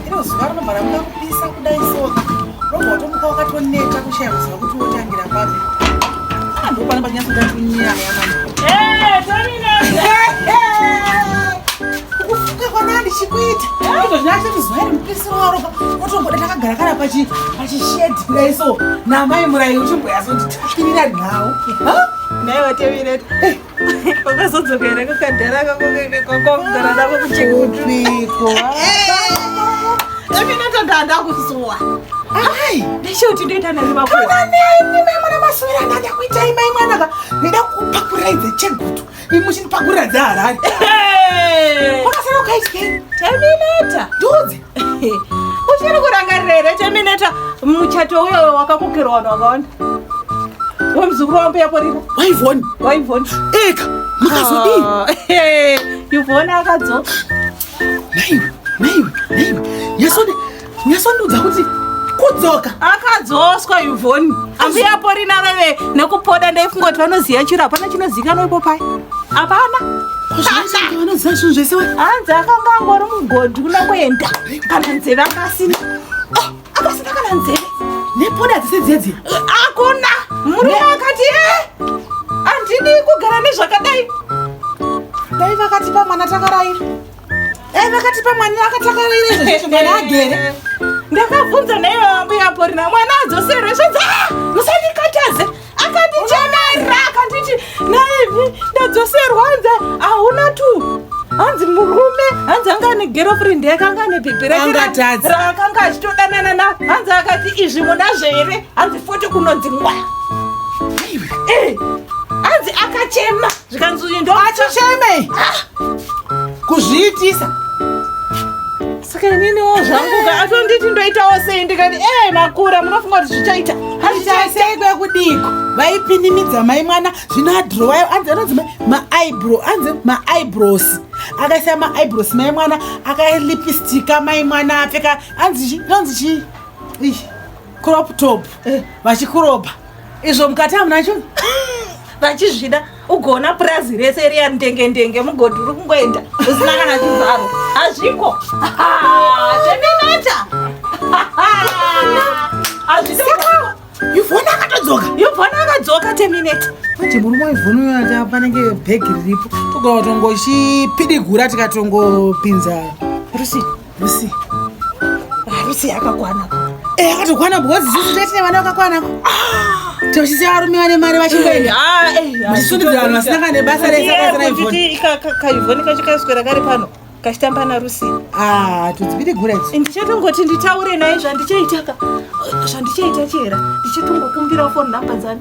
iro zuva rinobva ramuka kupisa kudai soka robva watomuka wakatoneta kushaya kuziva kuti wotangira papi ah, ndopana panyatso ndatunyaya kufuka kwanaa ndichikuita ito zvinaacho tizuva iri mupisi waroka wotomboda takagara kana pachishedi kudai so namai murayi uchimboyazonditairira nhau naiwe tevireta Wakazodzoka here kakadhara kako kakakugara nako kuchekupiko? Imi natoda ndakusuwa. Ai, ndishoti ndoita nani vako. Kana nini mai mwana maswera ndada kuita mai mwana ka. Ndida kupakurai dze chegutu. Imushini pakura dza harari. Wakasara ukaitye. Terminator. Duzi. uchiri kurangarira here temineta muchato uyo wakakokerwa vanhu vakawanda wemuzukuru wambo yaporira waivoni waivoni eka makazodii ah, yuvoni akadzo naiwe naiwe naiwe nyasonde nyasondudza kuti kudzoka akadzoswa yuvoni ambuya porina veve nekupoda ndaifungoti vanoziva chiro hapana chinozikanwa ipo pai hapana Anoziva zvinhu zvese we. Hanzi akanga angori mugodhi kuna kuenda kana nzeve akasina. Ah, akasina kana nzeve. Nepoda dzese dzedzi. Akuna. Murume akati eh. Andidi kugara nezvakadai. Dai vakati pamwana takaraira. Dai vakati pamwana akatakaraira izvo zveshe mwana agere. Ndakabvunza naivo ambuya porina mwana adzoserwe zvinzi ah musandikataze. akandichenera akanditi naivi ndadzoserwa hanzi hauna tu hanzi murume hanzi anga ane girlfriend yake anga ane bhebhi raakanga achitodanana na hanzi akati izvi munazvo here hanzi foti kunonzi mwa hanzi akachema zvikanzi uyu ndo achichemei kuzviitisa saka ininiwo zvangu ka atonditi ndoitawo sei ndikati ee makura munofunga kuti zvichaita hazvichaisei kwekudiko vaipinimidza mai mwana zvino adrowayo anzi anonzi maaibro anzi maaibros akaisa maaibros mai mwana akalipistika mai mwana apfeka anzi chi inonzi chii crop top eh. vachikuropa izvo mukati hamuna cho vachizvida ugoona purazi rese riya ndenge ndenge mugodhi uri kungoenda usina kana chivharo hazviko zveminata yuvhona akatodzoka yuvhona akadzoka temineta kuti murume wevhona uyo ata panenge bhegi riripo togawa tongochipidigura tikatongopinza rusii Lucy. Ah, Lucy yakakwana. Eh, akatokwana because isusu tete nevana vakakwana. Ah, tochisiya varume vane mari vachingoenda. Ah, eh. Muchisundidzira vanhu vasina kana nebasa rese akaita na Ivone. Kaivone kacho kaswera kari pano. Kachitamba na Lucy. Ah, tudzibide gura ichi. Eh, ndichatongoti nditaure naye zvandichaitaka. Zvandichaita chera. Ndichatongokumbira phone number dzani.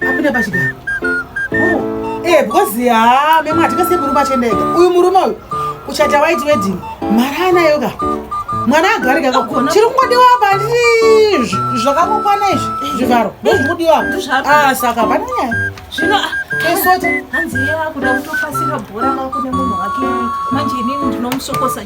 Apinda pachigaro. Oh, eh because ha ah, mema atikase murume achenda ega. Uyu murume uyu kuchata white wedding. Mara anayo ka. Mwana agari ka. Chiri kungodiwa apa ndizvi. Zvakakokwana izvi. Eh. Zvivharo. Ndozvi kungodiwa apa. Ah saka pane nyaya. Zvino ah, kesote. Hanzi yeye akuda kutopasira bhora makune munhu wake. Manje inini ndinomusokosa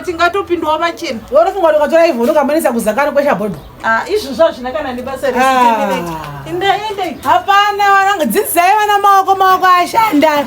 tingatopindawo vachena worofunga ukatora ivhu unokambanisa kuzakana kwesha bhodho ah, izvi zvazvina kana nebasa resindaendei ah. hapana vananga dzidzisai vana maoko maoko ashanda